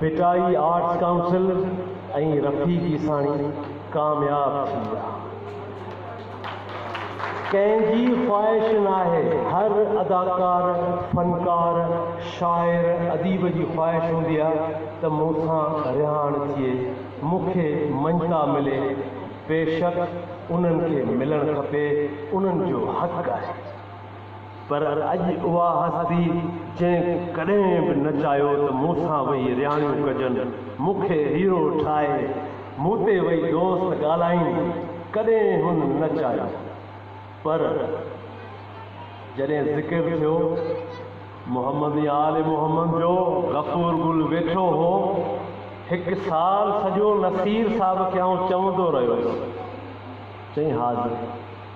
Bhittai arts council ۽ Rafiq Isani ڪامياب ٿي ويا. ڪنهن جي خواهش ناهي، هر اداڪار، فنڪار، شاعر، اديب جي خواهش هوندي آ ته مون سان رهاڻ ٿئي، مون کي مڃتا ملي، بيشڪ انهن کي ملڻ کپي، انهن جو حق آهي. پر اڄ اها هستي جنهن ڪڏهن به نه چاهيو ته مون سان ويهي رهاڻيون ڪجن، مون کي هيرو ٺاهي مون تي ويهي دوست ڳالهائين، ڪڏهن هن نه چاهيو. پر جڏهن ذڪر ٿيو محمد يا آل محمد جو، غفور گل ويٺو هو، هڪ سال سڄو نصير صاحب کي آئون چوندو رهيس، چئين حاضر.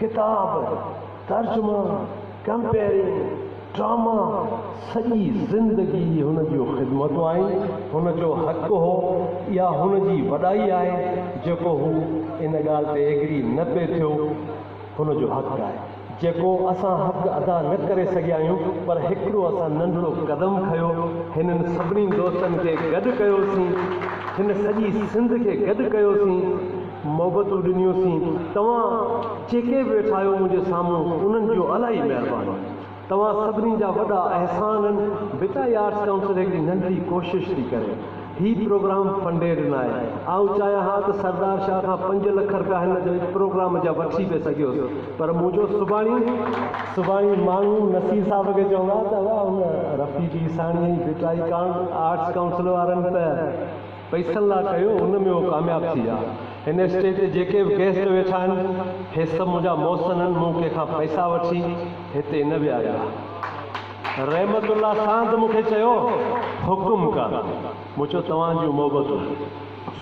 ڪتاب، ترجمو، ڪمپيئرنگ، ڊراما، سڄي زندگي هن جون خدمتون آهن، هن جو حق هو، اها هن جي وڏائي آهي، جيڪو هو ان ڳالهه تي ايگري نه پئي ٿيو، هن جو حق آهي، جيڪو اسان حق ادا نه ڪري سگهيا آهيون، پر هڪڙو اسان ننڍڙو قدم کنيو، هنن سڀني دوستن کي گڏ ڪيوسين، هن سڄي سنڌ کي گڏ ڪيوسين، محبتون ڏنيون سين توهان جيڪي به ويٺا آهيو منهنجي سامهون انهن جون الاهي مهربانيون توهان سڀني جا وڏا احسان آهن بيٽا هي آرٽس ڪائونسل هڪڙي ننڍڙي ڪوشش ٿي ڪري هي پروگرام فنڊيڊ ناهي آئون چاهيان ها ته سردار شاهه کان پنج لک رپيا هن جي پروگرام جا وٺي به سگهيس پر منهنجو سڀاڻي سڀاڻي ماڻهو نصير صاحب کي چوندا ته اها ان رفيق عيساڻي ۽ بيٽا هي ڪا آرٽس ڪائونسل وارن ته. پئسن لا ڪيو ان ۾ هو ڪامياب ٿي ويا هن اسٽيج تي جيڪي به گيسٽ ويٺا آهن هي سڀ منهنجا محسن آهن مون ڪنهن کان پئسا وٺي هتي نه ويهاريو آهي رحمت الله ساند مون کي چيو حڪم ڪر مون چيو توهان جون محبتون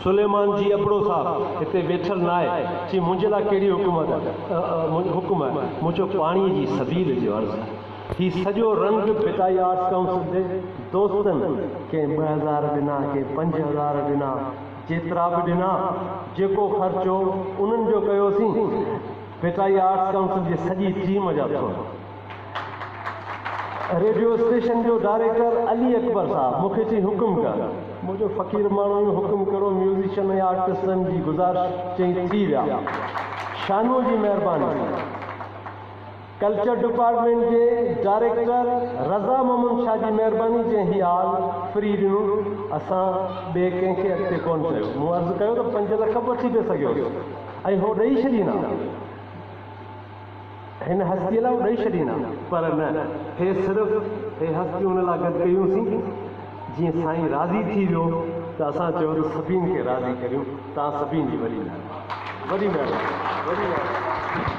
سليمان جي ابڙو صاحب هتي ويٺل نه آهي چي منهنجي لا ڪهڙي حڪومت حڪم آهي مون چيو پاڻي جي سبيل جي عرض هي سڄو رنگ ڀٽائي آرٽس ڪائونسل جي دوستن ڪنهن ٻه هزار ڏنا ڪنهن پنج هزار ڏنا جيترا به ڏنا جيڪو خرچ هو انهن جو ڪيوسين ڀٽائي آرٽس ڪائونسل جي سڄي ٽيم جا ٿورا ريڊيو اسٽيشن جو ڊائريڪٽر علي اڪبر صاحب مون کي چي حڪم ڪر منهنجو فقير ماڻهو جو حڪم ڪهڙو ميوزيشن ۽ آرٽسن جي گذارش چئي ٿي ويا شانوء جي مهرباني ڪلچر ڊپارٽمينٽ جي ڊائريڪٽر رضا محمد شاهه جي مهرباني جنهن هي آل فري ڏنو اسان ٻئي ڪنهن کي اڳتي ڪونه چيو مون عرض ڪيو ته پنج لک به وٺي پئي سگهيوس ۽ هو ڏئي ڇڏيندا هن هستي لاء هو ڏئي ڇڏيندا پر نه هي صرف هي هستيون ان لاء گڏ ڪيون سين جيئن سائين راضي ٿي ويو ته اسان چيو ته سڀين کي راضي ڪريون توهان سڀين جي وڏي مهرباني وڏي مهرباني وڏي مهرباني